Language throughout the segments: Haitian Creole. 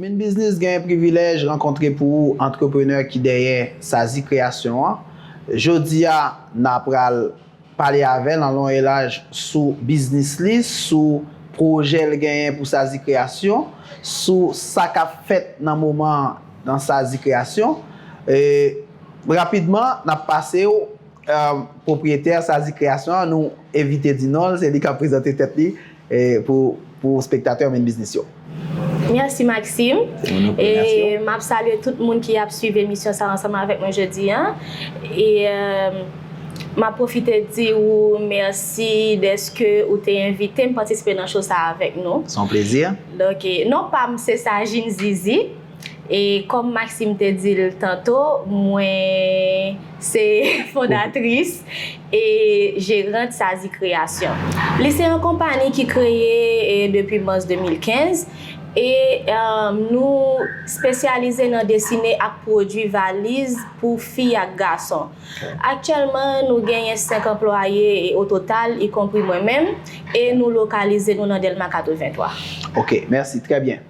Min Biznis genyen privilèj rankontre pou ou antreprenè ki dèyè Sazi Kreyasyon an. Jodi a, n a pral pale avè l an lon e laj sou biznis li, sou pwojè l genyen pou Sazi Kreyasyon, sou sa k ap fèt nan moman an nan Sazi Kreyasyon. Rapidman, n ap pase w Pwopriyetè Sazi Kreyasyon an, nou evite di non l, se li k ap prezante tèt li pou spektatè Main Business yo. Mèsi Maxime. E m ap salye tout moun ki ap suiv emisyon sa ansanm avèk mwen jodi an. E m ap pwofite di ou mèsi dèske ou te envite m patisipe nan show sa avèk nou. Se yon plezi. Donk non pa m se Sajin Zizi. E kòm Maxime te di l tanto, mwen se fondatris e jerant Sazi Kreyasyon. Li se yon konpani ki kreye depi mas 2015 e nou spesyalize nan desine ak pwodui valiz pou fi ak gason. Aktyèlman nou genyen 5 anplwaye o total, ikonpri mwen menm, e nou lokalize nou nan Dèlma 83. Ok, mèsi. Trè byen.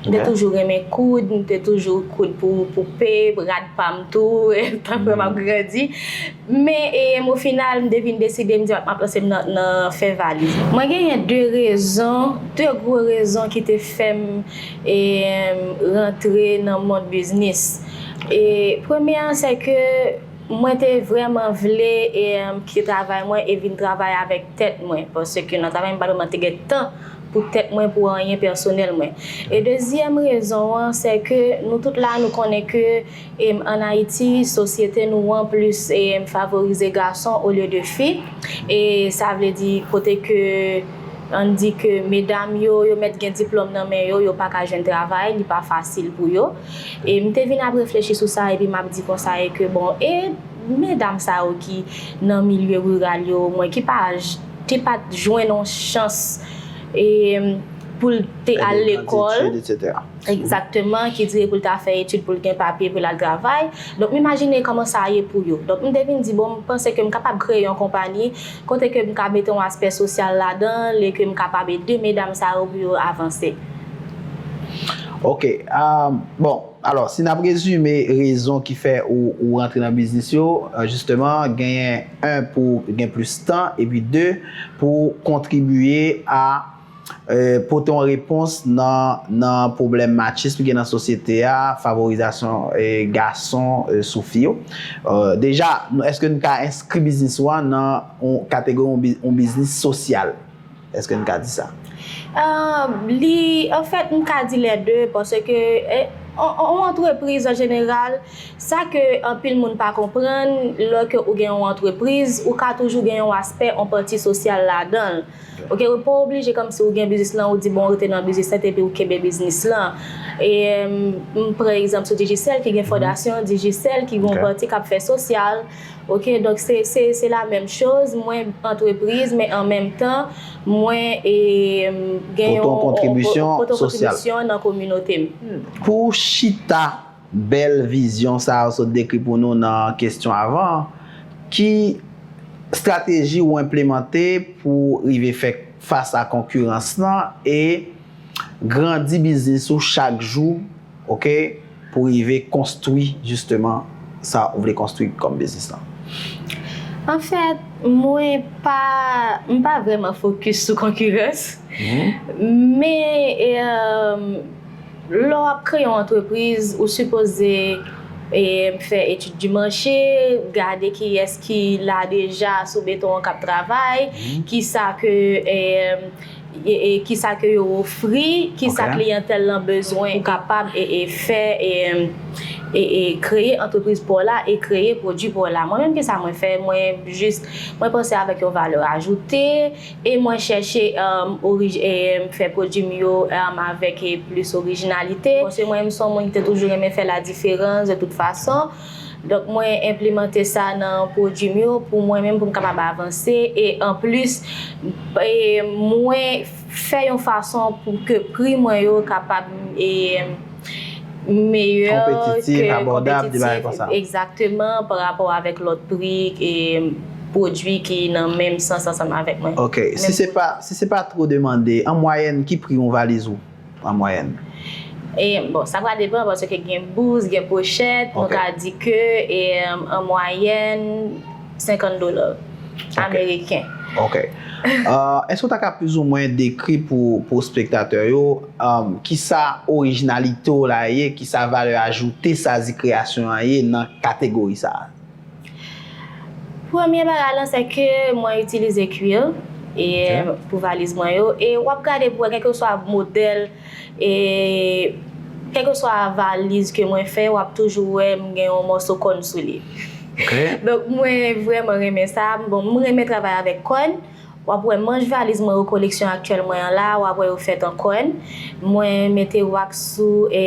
M te toujou renmen koud, m te toujou koud pou poupe, rad pa m tou, tank lè m ap grandi. Men, o final, m te vin deside, m di m ap lanse m nan fè valiz. Mwen genyen de rezon, de gwo rezon ki te fè m rantre nan mond biznis. Premye an, se ke mwen te vrèman vle kite travay mwen e vin travay avèk tèt mwen. Paske nan travay m pa vrèman te gen tan. pou tèt mwen pou anyen pèsonèl mwen e dezyèm rezon an sè ke nou tout la nou konnen ke an Ayiti sosyete nou an plis favorize gason olye de fi e sa vle di kote ke ann di ke medam yo yo mèt gen diplòm nan men yo yo pa ka jwenn travay li pa fasil pou yo e m te vin ap reflechi sou sa epi m ap di konsa e ke bon e medam sa yo ki nan milye riral yo mwen ki pa te pat jwenn yon chans pou l te al lekòl, egzakteman, ki dire pou l ta fè etid pou l gen papye pou l al travay. Donk m imajine kòman sa ye pou yo. Donk m te vin di bon m panse ke m kapab kreye yon konpani kote ke m ka mete yon aspè sosyal ladan l e ke m kapab ede medam sa yo pou yo avanse. Ok, bon. Alò, si n ap rezime rezon ki fè ou rantre nan biznis yo, jisteman, genyen 1 pou w gen plis tan, epi 2 pou w kontribiye a pote yon repons nan pwoblèm machism ki gen nan sosyete a, favorizasyon gason sou fi yo. Deja, èske n ka enskri biznis ou an nan kategori yon biznis sosyal? Eske n ka di sa? Li, anfèt, m ka di lè de, paske yon antrepriz an jeneral, sa ke anpil moun pa konprann, lò ke ou gen yon antrepriz, ou ka toujou gen yon aspè, yon pati sosyal ladan l. Ok, ou pa oblije kòmsi ou gen biznis lan, ou di bon ou rete nan biznis lan epi ou kenbe biznis lan. E m pran egzanp sou Digicel ki gen fondasyon Digicel ki gen yon pati k ap fè sosyal. Ok donk se se se la menm choz mwen antrepriz men an menm tan mwen e gen yon pote yon kontribisyon pote yon kontribisyon nan kominote m. Hmm pou chita bèl vizyon sa ou sot dekri pou nou nan kesyon avan an ki strateji ou enplemante pou rive fè fas a konkirans lan e grandi biznis ou chak jou ok. pou rive konstwi jisteman sa ou vle konstwi kòm biznis lan? Anfèt, mwen pa, m pa vrèman fokis sou konkirans. Men, lè w ap kreye yon antrepriz, ou sipoze fè etid di mache, gade kiyès ki la deja sou beton an k ap travay, kisa ke. Kisa ke yo ofri, kisa kliyantèl lan bezwen pou kapab fè kreye antrepriz pa w la e kreye pwodui pa w la. Mwen menm kisa mwen fè, mwen jis mwen panse avèk yon valè ajoute e mwen chèche fè pwodui m yo avèk plis orijinalite. Paske mwen menm son moun ki te toujou renmen fè la diferans de tout fason. Donk mwen enplemante sa nan pwodwi m yo pou mwen menm pou m kapab avanse e anplis mwen fè yon fason pou ke pri mwen yo kapab meyè konpetitif abòdab egzakteman pa rapò avèk lòt pri pwodwi ki nan menm sans ansanm avèk mwen. Ok si se pa twò demande an mwayèn ki pri yon valiz ou an mwayèn. E bon, sa pral depan paske gen bous, gen pochèt, nou ka di ke an mwayèn 50 dola ameriken. Ok. Èske ou ta ka plizoumwen dekri pou espektatè yo kisa orijinalite w la ye, kisa valè ajoute Sazi Kreyasyon an ye nan kategori sa a? Premye bagay lan se ke mwen itilize kwil pou valiz mwen yo e wap gade pou wè kèlke swa modèl e kèlke swa valiz ke mwen fè wap toujou wè m gen yon mòso kòn sou li. Donk mwen vrèman renmen sa, bon m renmen travay avèk kòn, wap wè manch valiz mwen yo koleksyon aktyèl mwen an la wap wè yo fèt an kòn, mwen mete wax sou e.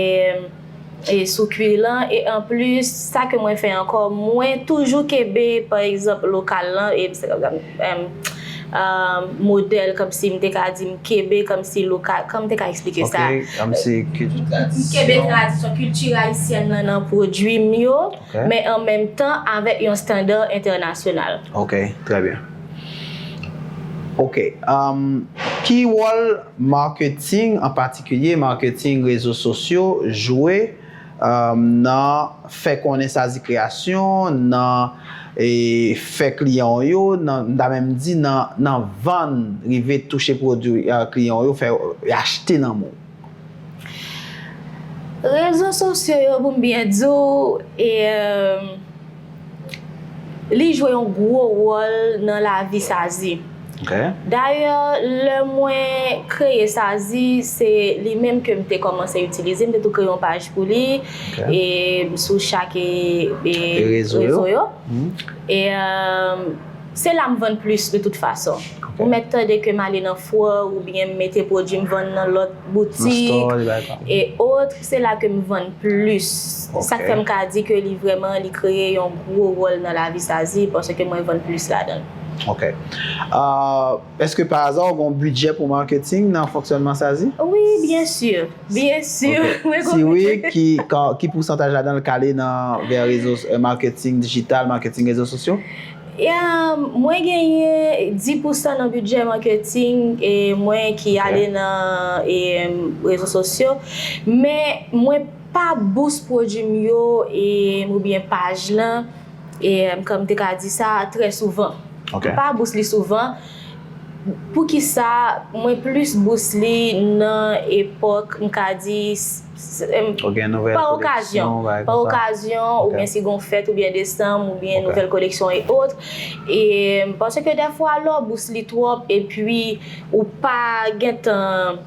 sou kuir lan e anplis sa ke mwen fè ankò mwen toujou kenbe pa egzanp lokal lan e m modèl kòmsi m te ka di m kenbe kòmsi lokal kòman m te ka eksplike sa kenbe tradisyon kilti ayisyèn lan nan pwodui m yo men an menm tan avèk yon standard entènasyonal. Ok trè byen. Ok Ki wòl marketing an patikilye marketing rezo sosyo jwe nan fè konnen Sazi Kreyasyon nan fè kliyan w yo nan m ta menm di nan vann rive touche pwodwi kliyan w yo fè yo achte nan men w? Rezo sosyo yo pou m byen di w e li jwe yon gwo wòl nan lavi Sazi. Dayè lè mwen kreye Sazi se li menm ke m te kòmanse itilize, m te tou kreye yon paj pou li e sou chak rezo yo. Se la m vann plis de tout fason. Ou mèt tande ke m ale nan fwè oubyen m mete pwodui m vann nan lòt boutik e otre, se la ke m vann plis. Sa k fè m ka di ke li vrèman li kreye yon gwo wòl nan lavi Sazi paske mwen vann plis ladan l. Ok. Eske pa aza ou gen yon bidjè pou marketing nan fonksyònman Sazi? Wi, byen si. Byen si mwen gen yon bidjè. Si wi, ki pousantaj ladan l k ale nan vè rezo, marketing dijital, marketing rezo sosyo? Ya mwen genyen 10 pousan nan bidjè marketing e mwen ki ale nan e rezo sosyo men mwen pa bous pwodwi m yo e ou byen paj lan e kan m te ka di sa trè souvan m pa bous li souvan poukisa mwen plis bous li nan epok m ka di Ou gen nouvèl koleksyon pa ekzanp? Pa okazyon, ou byen si gon fèt ou byen desanm ou byen nouvèl koleksyon e ot. E panse ke dèfwa lè w bous li twòp e pwi ou pa gen tan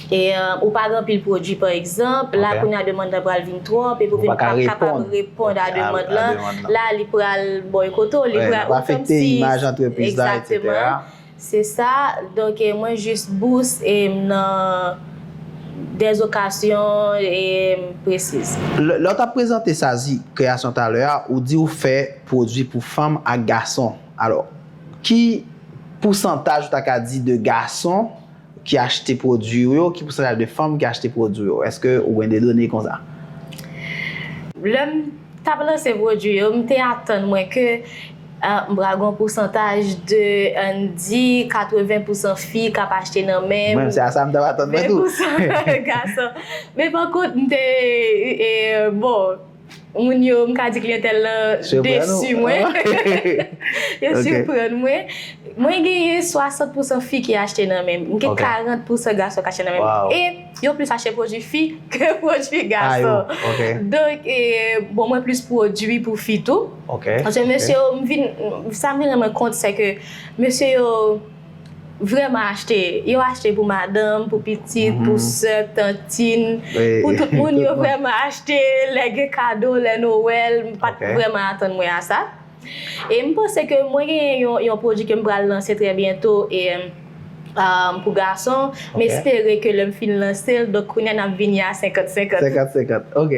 e ou pa gen anpil pwodwi pa ekzanp, la kounye a demand lan pral vin twòp e pou vin pa kapab reponn a demand lan, la li pral boykote w, li pral ou kòm si. Afekte imaj antrepriz la, eksetera. Se sa, donk mwen jis bous e m nan des okasyon e m presiz. Lè w t ap prezante Sazi Kreyasyon talè a, ou di ou fè pwodui pou fanm ak gason. Alò, ki pousantaj ou ta ka di de gason? ki achte pwodwi ou yo? Ki pousantaj de fanm ki achte pwodwi yo? Eske ou gen de done konsa? Lè m t ap lanse pwodwi yo, m te atann mwen ke m pral gen yon pousantaj de, an n di, 80 pousan fi k ap achte nan men m, 20 pousan gason. Men pakont, m te, bon. Moun yo, m ka di kliyantèl la desi mwen. Yo siprann mwen. Mwen genyen 60 pousan fi ki achte nan men m. M gen 40 pousan gason ki achte nan men m. E yo plis achte pwodui fi ke pwodui gason. Donk, bon mwen plis pwodui pou fi tou. Paske mesye yo, m vin, sa m vin rann mwen kont se ke mesye yo. Vrèman achte, yo achte pou madanm, pou pitit, pou sè, tantin, pou tout moun yo vrèman achte lè gen kado, lè Noël, m pat vrèman atann mwen a sa. E m panse ke mwen gen yon pwodwi ke m pral lanse trè byento e pou gason, m espere ke lè m fin lanse l, donk kounye a n ap vini a 50 50. 50 50, ok.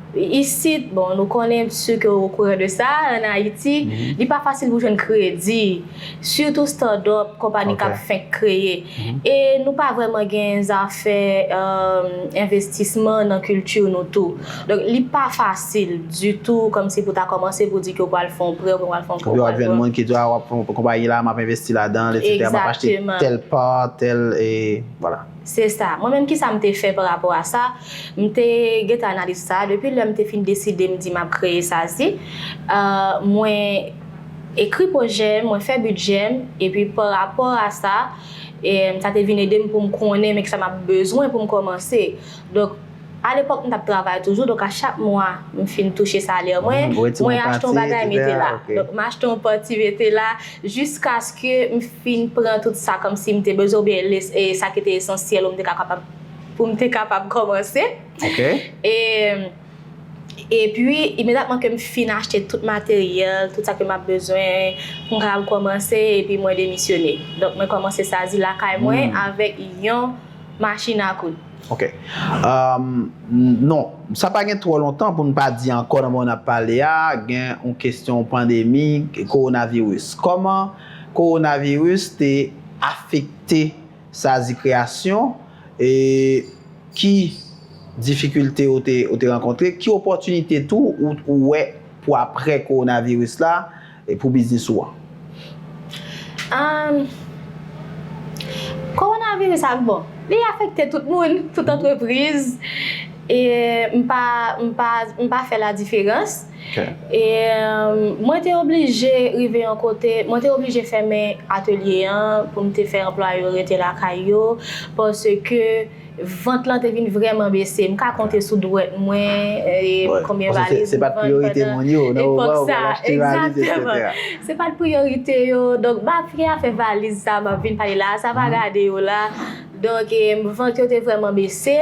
Isit, bon, nou konnen, si ke ou okouran de sa, an Ayiti, li pa fasil pou jwenn kredi, sitou start-up, konpani k ap fenk kreye. E nou pa vrèman gen zafè envestisman nan kilti nou tou. Donk, li pa fasil ditou kòmsi pou ta kòmanse pou di ke ou pral fè yon prè oubyen ou pral fè yon crowdfunding. Epi w ap jwenn moun ki di, a, w ap fè yon konpayi la, m ap envesti ladan l, etsètera, m ap achte tèl part, tèl, e, vwala. Se sa. Mwen menm kisa m te fè parapò a sa, m te gentan analize sa a depi lè m te fin deside m di m ap kreye SAZY. Mwen ekri pwojè m, mwen fè bidjè m, epi parapò a sa, sa te vin ede m pou m konnen men kisa m ap bezwen pou m kòmanse. Donk. A lepòk m t ap travay toujou donk a chak mwa m fin touche salè mwen, mwen achte yon bagay mete la. Donk m achte yon pati mete la jiskaske m fin pran tout sa kòmsi m te bezwen oubyen sa ki te esansyèl pou m te kapab kòmanse. Epi imedyateman ke m fin achte tout materyèl, tout sa ke m ap bezwen pou m kapab kòmanse epi mwen demisyone. Donk mwen kòmanse Sazi lakay mwen avèk yon. machin a koud. Ok. Non, sa pa gen twò lontan pou n pa di ankò nan moman n ap pale a, gen yon kesyon pandemi kowonaviris. Kòman kowonaviris te afekte Sazi Kreyasyon e ki difikilte ou te rankontre? Ki opòtinite tou ou wè pou aprè kowonaviris la? E pou biznis ou an? Amm. Kowonaviris ak bon, li afekte tout moun, tout antrepriz. E m pa, m pa, m pa fè ladiferans. Ok. E mwen te oblije rive yon kote, mwen te oblije fèmen atelye an pou m te fè anplwaye yo rete lakay yo paske. Vant lan te vin vreman bese. M ka konte sou dwèt mwen konbyen valiz m vann pandan epòk sa a. Egzakteman. Se pa t priyorite yo. Donk, m ap gen afè valiz sa a m ap vin pale la a. Sa va gade yo la. Donk, vant yo te vreman bese.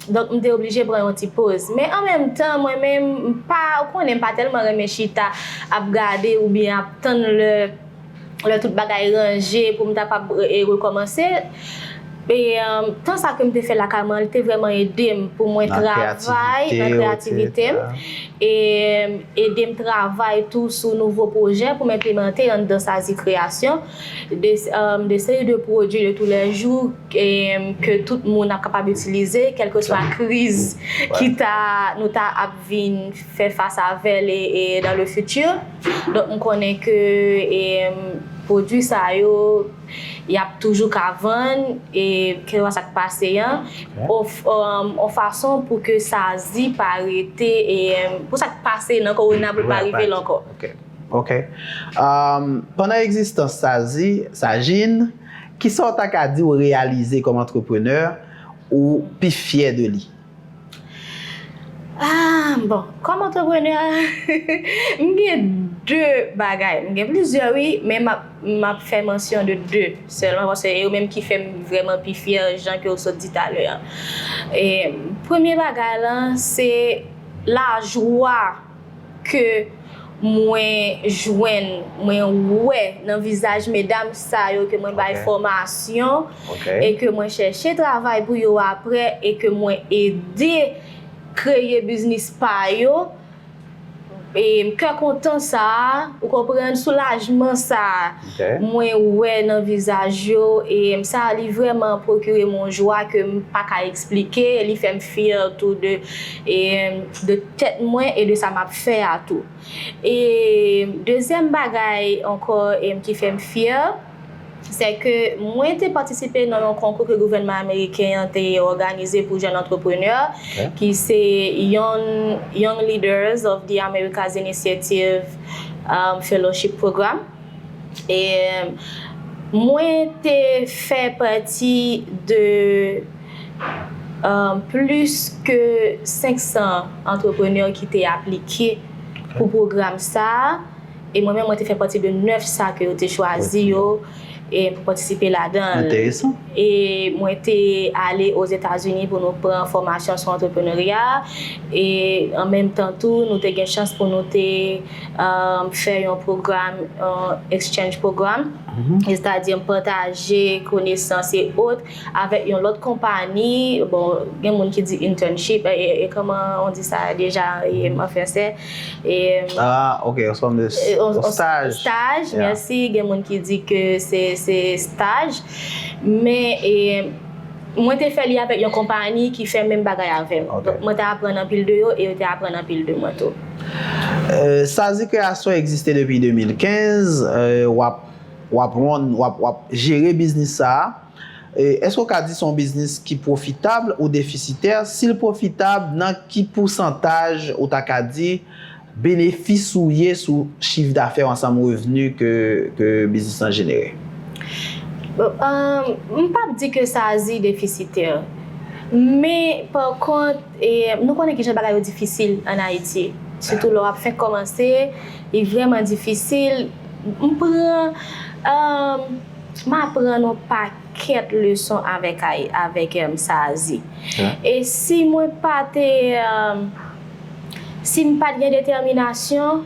Donk, m te oblije pran yon ti poz. Men an menm tan, mwen menm, m pa, ou konnen, m pa tèlman renmen chita ap gade oubyen ap tann lè. lè tout bagay ranje pou m ta kpab rekòmanse. E tan sa ke m te fè lakay mwen an, li te vrèman ede m pou mwen travay nan kreyativite m. E ede m travay tou sou nouvo pwojè pou m enplemante anndan Sazi Kreyasyon. De seri de pwodui de tou lè jou ke tout moun ap kapab itilize kèlkeswa kriz ki ta nou ta ap. vin fè fas avèl e dans le futur donk m konnen ke e pwodwi sa yo yap toujou ka vann e kelkwa sak pase an on fason pou ke sa di pa rete e pou sak pase nan kowona pou l pa rive l ankò ok pandan egzistans sa di Sajin kisa w ta ka di w reyalize kòm antreprenè ou pi fyè de li. Aah bon kòm antreprenè m gen 2 bagay m gen plizyè wi men map fè mansyon de 2 sèlman paske se yo menm ki fèm vrèman pi fyè jan ke ou sot di talè an. Premye bagay lan se lajwa. ke mwen jwenn, mwen wè nan vizaj medam sa yo ke mwen bay fòmasyon e ke mwen chèche travay pou yo aprè e ke mwen ede kreye biznis pa yo, kè kontan sa a, ou konprann, soulajman sa a. Mwen wè nan vizaj yo em sa li vrèman pwokirem yon jwa kem paka eksplike li fèm fyè tou de em de tèt mwen e de sa map fè a tou em dezyèm bagay ankò em ki fèm fyè sè ke mwen te patisipe nan yon konkou ke gouvènman ameriken an te òganize pou jèn antreprenè ki se yon Young Leaders of the Americas Initiative Fellowship Program. e mwen te fè pati de plis ke 500 antreprenè ki te aplike pou pwogram sa a, e mwen menm mwen te fè pati de 9 sa ke yo te chwazi yo pou patisipe ladan l. Enteresan. E mwen te ale Ozetazini pou nou pran fòmasyon sou antreprenerya, e an menm tan tou nou te gen chans pou nou te. fè yon pwogram, yon exchange program, estadi m pataje konesans e ot avèk yon lòt konpani, bon gen moun ki di internship, e kòman on di sa deja an fransè? Ah ok, yon sòm de staj. Staj, mèsi, gen moun ki di ke se staj, men e mwen te fè li avèk yon konpani ki fè menm bagay avè m, donk mwen te aprann anpil de yo e yo te aprann anpil de mwen tou. Sazi kreyasyon egziste depi 2015, wap wap run, wap wap jere biznis sa a, èske ou ka di se yon biznis ki pwofitab ou defisitè, sil pwofitab nan ki pousantaj ou ta ka di benefis ou ye sou chif dafè w ansanm revni ke ke biznis lan jenere? Bon, m pap di ke sazi defisitè, men pa kont. E nou konnen kijan bagay yo difisil an Ayiti. Sitou lè w ap fenk kòmanse, li vrèman difisil. M pran, m aprann on pakèt leson avèk avèk Sazi. E si mwen pa te, si m pa t gen detèminasyon,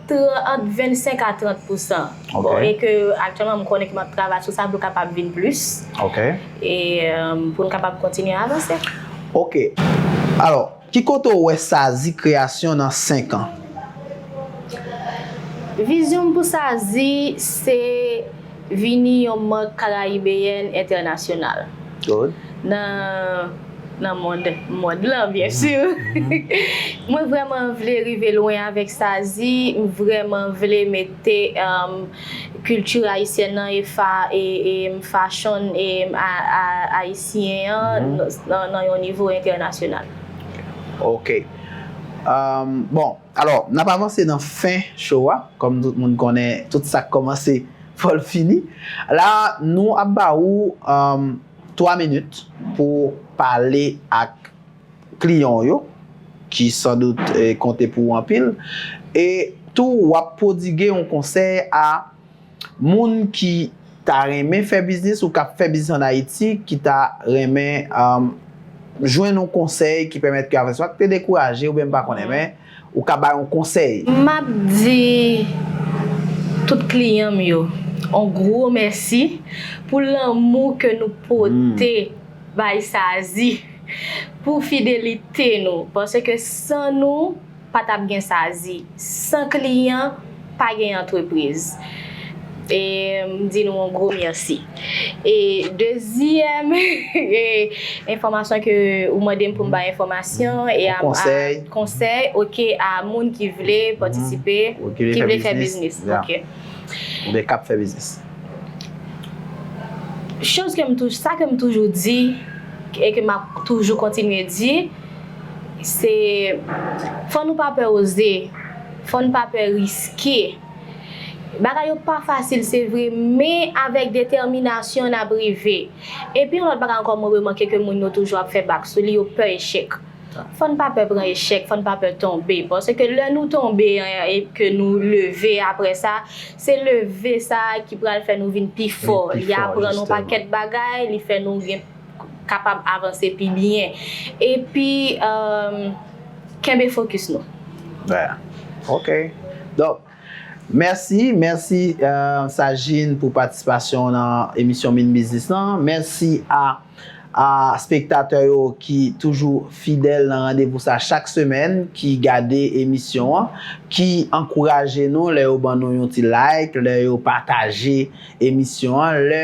Tran ant 25 a 30 pousan. Ok. E ke aktyèlman m konnen ke m ap travay sou sa pou l kapab vin plis. Ok. E pou n kapab kontinye avanse. Ok. Alò, ki kote w wè Sazi Kreyasyon nan 5 an? Vizyon m pou Sazi se. Vini yon mank karayibeyèn entènasyonal nan nan mond mond lan byen sur mwen vrèman vle rive lwen avèk sazi m vrèman vle mete kilti ayisyèn nan e fa e fashon ayisyen an nan yon nivo entènasyonal. Ok bon Alò, n ap avanse nan fen show a, kòm tout moun konnen tout sa k kòmanse fò l fini. La a, nou ap ba ou 3 minit pou w pale ak kliyan w yo, ki san dout konte pou ou anpil, e tou w ap pwodigue yon konsèy a Moun ki ta renmen fè biznis ou kap fè biznis an Ayiti ki ta renmen jwenn yon konsèy ki pèmèt ke avans pat te dekouraje oubyen m pa konnen men ou ka bay yon konsèy. Map di tout kliyan m yo yon gwo mèsi pou lanmou ke nou pote bay Sazi, pou fidelite nou paske san nou. Pa tap gen sa di. San kliyan, pa gen antrepriz. E m di nou yon gwo mèsi. E dezyèm enfòmasyon ke ou mande m pou m bay enfòmasyon e a konsèy ok a moun ki vle patisipe, ki vle fè biznis. Oubyen kap fè biznis. Choz ke m toujou, sa ke m toujou di e ke map toujou kontinye di. Se fò nou pa pè oze, fò n pa pè riske. Bagay yo pa fasil se vre men avèk detèminasyon n ap rive. Epi yon lòt bagay ankò mwen remake ke moun yo toujou ap fè bak sou li, yo pè echèk. Fò n pa pè pran echèk, fò n pa pè tonbe. Paske lè nou tonbe an e ke nou leve aprè sa, se leve sa a ki pral fè nou vin pi fò. Li aprann nou pakèt bagay, li fè nou gen. kapab avanse pi byen epi kenbe fokis nou. Ok donk mèsi, mèsi Sajin pou patisipasyon w nan emisyon Min Biznis lan, mèsi a spektatè yo ki toujou fidèl nan randevou sa chak semèn ki gade emisyon an, ki ankouraje nou lè yo ban nou yon ti like, lè yo pataje emisyon an, lè